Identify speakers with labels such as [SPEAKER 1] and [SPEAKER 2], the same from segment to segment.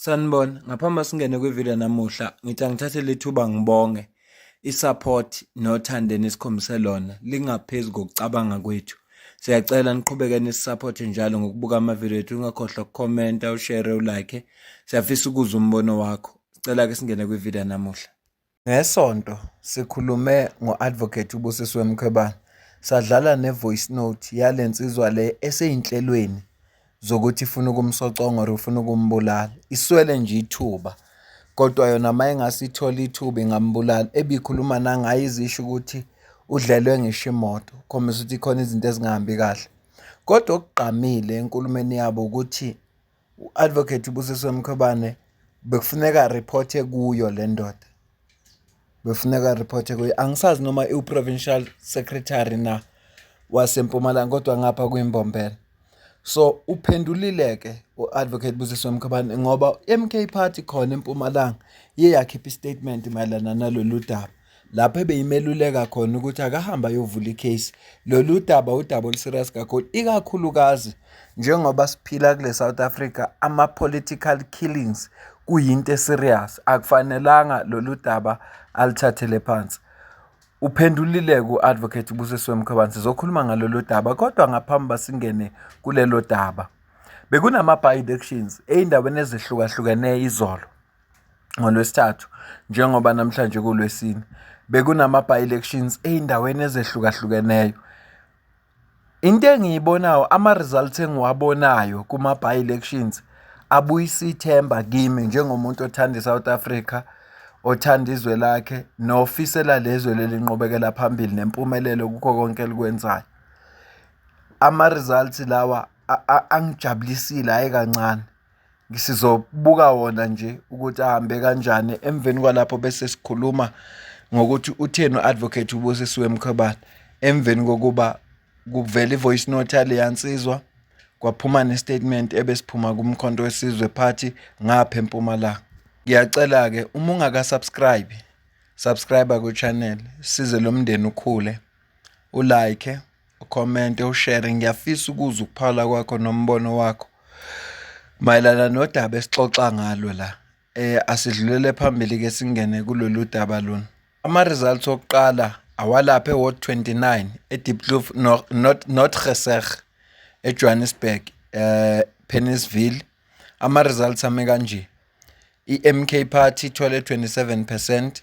[SPEAKER 1] Sanibona, ngaphambi singene kwivideo namuhla, ngithi angithathe lethuba ngibonge isupport nothando enikhombise lona lingaphezulu kokucabanga kwethu. Siyacela niqhubeke nisisupport njalo ngokubuka amavideo ethu, ungakhohlwa ukukhomenta, ushare, ulike. Siyafisa ukuzwa umbono wakho. Sicela ke singene kwivideo namuhla. Ngesonto sikhulume ngo-Advocate uBusisiwe Mkhwebane sadlala ne-voice note yale nsizwa le esey'nhlelweni zokuthi ifuna ukumsoconga or ifuna ukumbulala. Iswele nje ithuba kodwa yona uma ingase ithole ithuba ingambulala. Ebikhuluma nangayo izisho ukuthi udlelwe ngisho imoto, khombisa ukuthi khona izinto ezingahambi kahle. Kodwa okugqamile enkulumeni yabo ukuthi U-Advocate uBusiswe Mkhwebane bekufuneka ariphothe kuyo le ndoda bekufuneka ariphothe kuyo angisazi noma iwu-provincial secretary na wasempumalanga kodwa ngapha kwimbombela so uphendulile-ke u-advocate busiswe mkhobane ngoba i-m k party khona empumalanga iye yakhipha istatement mayelana nalolu daba lapho ebeyimeluleka khona ukuthi akahambe ayovula icase lolu daba udaba oluserious kakhulu ikakhulukazi njengoba siphila kule South Africa ama political killings kuyinto eserious akufanelanga lolu daba alithathele phansi uphendulile ku-advocate ubusisiwe mkhwebane sizokhuluma ngalolu daba kodwa ngaphambi basingene kulelo daba bekunama-by-elections ey'ndaweni ezihlukahlukeneyo izolo ngoLwesithathu njengoba namhlanje kuLwesine bekunama-by-elections ey'ndaweni ezehlukahlukeneyo. Into engiyibonayo ama-results engiwabonayo kuma-by-elections abuyisa ithemba kimi njengomuntu othanda i-South Africa, othanda izwe lakhe nofisela lezwe leli nqubekela phambili nempumelelo kukho konke elikwenzayo. Ama-results lawa angijabulisile hhayi kancane. Sizobuka wona nje ukuthi ahambe kanjani emveni kwalapho bese sikhuluma ngokuthi utheni u-advocate ubusisiwe mkhwebane emveni kokuba kuvela i-voice note yaleya nsizwa kwaphuma ne-statement ebesiphuma kumkhonto wesizwe party ngapha empumalanga ngiyacela-ke uma ungaka-subscribe subscribe kwichannel size lo mndeni ukhule ulike Ukhomente, ushere, ngiyafisa ukuzwa ukuphala kwakho nombono wakho mayelana nodaba esixoxa ngalo la. Eh, asidlulele phambili-ke singene kulolu daba lona. Ama-results okuqala awalapha e-ward 29 edipkloof notreser ejohannesburg eh pennisville ama-results ame kanje i-mk party ithole 27 percent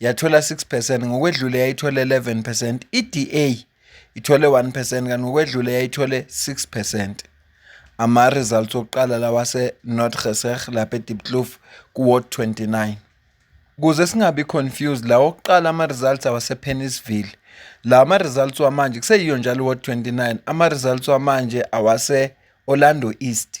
[SPEAKER 1] yathola 6 percent ngokwedlule yayithole 11 percent i-da ithole 1 percent kanti ngokwedlule yayithole 6 percent ama-results okuqala lawase-north geser lapha edipkloof kuward 29 kuze singabi confused lawo okuqala ama-results awasepennisville lawa ama-results wamanje kuseyiyo njalo ward 29 ama-results wamanje awase-orlando east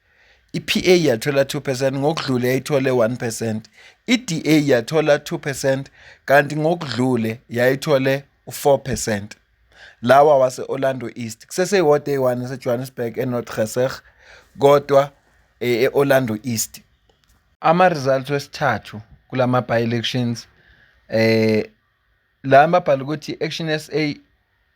[SPEAKER 1] iPA yathola 2 percent ngokudlule yayithole 1 percent, iDA yathola 2 percent kanti ngokudlule yayithole u-4 percent. Lawa wase-Orlando East kuseseyihode eyi-1 eseJohannesburg eNorth Geseg kodwa eh, e-Orlando East. Ama-results wesithathu kula ma-by-elections eh la mabhala ukuthi Action SA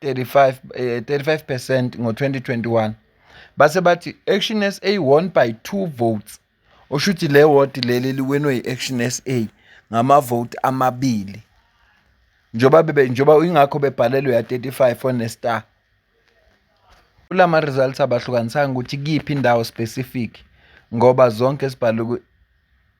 [SPEAKER 1] 35 eh, 35 percent ngo-2021 base bathi action sa won by two votes osho ukuthi le wodi leli liwenwe yi-action sa ngamavoti amabili njengoba bebe njengoba ingakho bebhalelwe ya-35 onestar kula ma-results abahlukanisanga ukuthi kiyiphi indawo specific ngoba zonke zibhalwe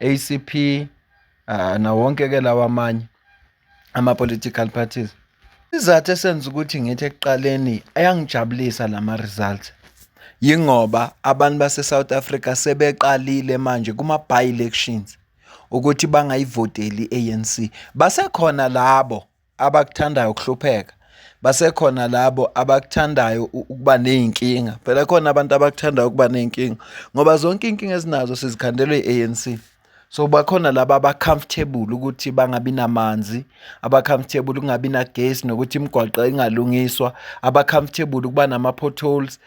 [SPEAKER 1] ACP uh, ah, nawonke ke lawa amanye ama political parties Isizathu esenza ukuthi ngithi ekuqaleni ayangijabulisa lama results yingoba abantu base-South Africa sebeqalile manje kuma-by-elections ukuthi bangayivoteli i-ANC. Basekhona labo abakuthandayo ukuhlupheka basekhona labo abakuthandayo ukuba nezinkinga phela khona abantu abakuthandayo ukuba nezinkinga ngoba zonke inkinga ezinazo sizikhandelwe iANC so bakhona laba abacomfortable ukuthi bangabi namanzi abacomfortable kungabi nagesi nokuthi imigwaqo ingalungiswa abacomfortable ukuba nama potholes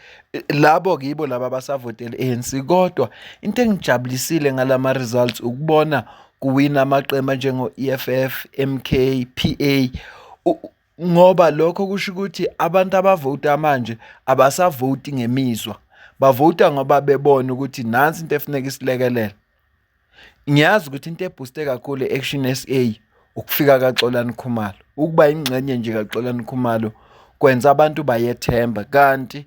[SPEAKER 1] labo kibo laba basavotela ANC kodwa into engijabulisile ngalama results ukubona kuwina amaqembu anjengo-EFF, MK, PA ngoba lokho kusho ukuthi abantu abavota manje abasavoti ngemizwa bavota ngoba bebona ukuthi nansi into efuneka isilekelele ngiyazi ukuthi into ebhuste kakhulu i-action s a ukufika kaxolani khumalo ukuba yingxenye nje kaxolani khumalo kwenza abantu bayethemba kanti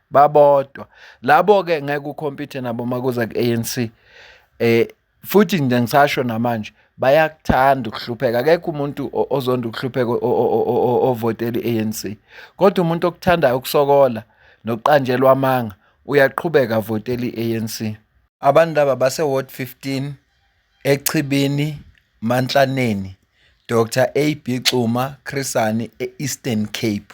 [SPEAKER 1] babodwa labo ke ngeke ukhompyuthe nabo makuza ku-ANC eh futhi nje ngisasho namanje bayakuthanda ukuhlupheka akekho umuntu ozonda ukuhlupheka ovotela i-ANC kodwa umuntu okuthandayo ukusokola nokuqanjelwa amanga uyaqhubeka avotela i-ANC abantu laba base ward 15 echibini mantlaneni Dr AB Xuma Chrisani e-Eastern Cape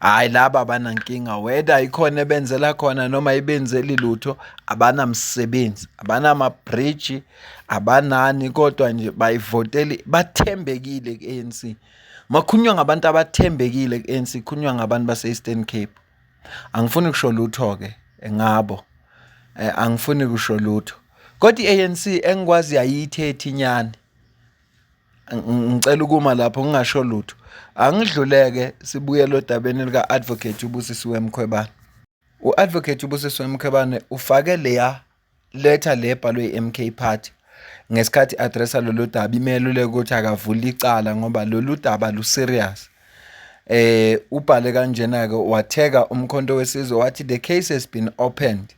[SPEAKER 1] Hayi laba abanankinga whether ikhona ebenzela khona noma ibenzeli lutho abanamsebenzi abanamabhriji abanani kodwa nje bayivoteli bathembekile ku-ANC makhunywa ngabantu abathembekile ku-ANC khunywa ngabantu base-Eastern Cape angifuni kusho lutho ke ngabo eh, angifuni kusho lutho kodwa i-ANC engikwazi yayithi ethinyane ngicela ukuma lapho ngingasho lutho angidluleke sibuyele odabeni lika-advocate ubusisiwe mkhwebane u-advocate ubusisiwe mkhwebane ufake leya letha le ebhalwe i-mk party ngesikhathi addressa lolu daba imeluleka ukuthi akavule icala ngoba lolu daba luserious eh ubhale kanjena ke watheka umkhonto wesizwe wathi the case has been opened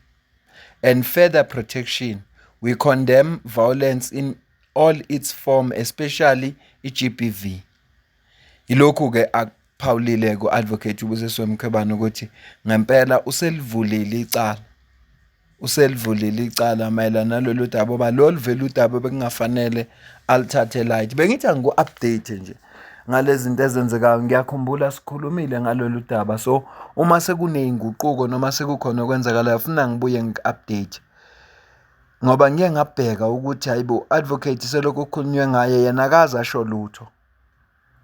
[SPEAKER 1] and further protection we condemn violence in all its form especially iGBV yilokhu ke akuphawulile ku advocate ubusiswe Mkhwebane ukuthi ngempela uselivulile icala uselivulile icala mayelana nalolu daba oba lolu vele udaba bekungafanele alithathe light bengithi angiku update nje ngalezi zinto ezenzekayo ngiyakhumbula sikhulumile ngalolu daba so uma sekunezinguquko noma sekukhona okwenzakalayo ufuna ngibuye ngi-update ngoba ngike ngabheka ukuthi hhayi bo advocate selokhu kukhulunywe ngaye yena akaze asho lutho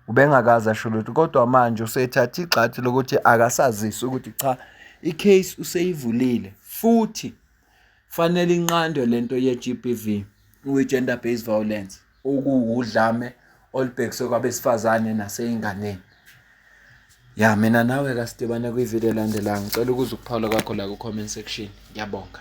[SPEAKER 1] ubengakaze asho lutho kodwa manje usethathe igxathu lokuthi akasazisi ukuthi cha i-case useyivulile futhi fanele inqandwe lento ye-GBV kwi-gender based violence okuwudlame olubhekiswe kwabesifazane naseyinganeni ya mina nawe kasidibane kwivideo elandelayo ngicela ukuza ukuphawula kwakho la ku-comment section ngiyabonga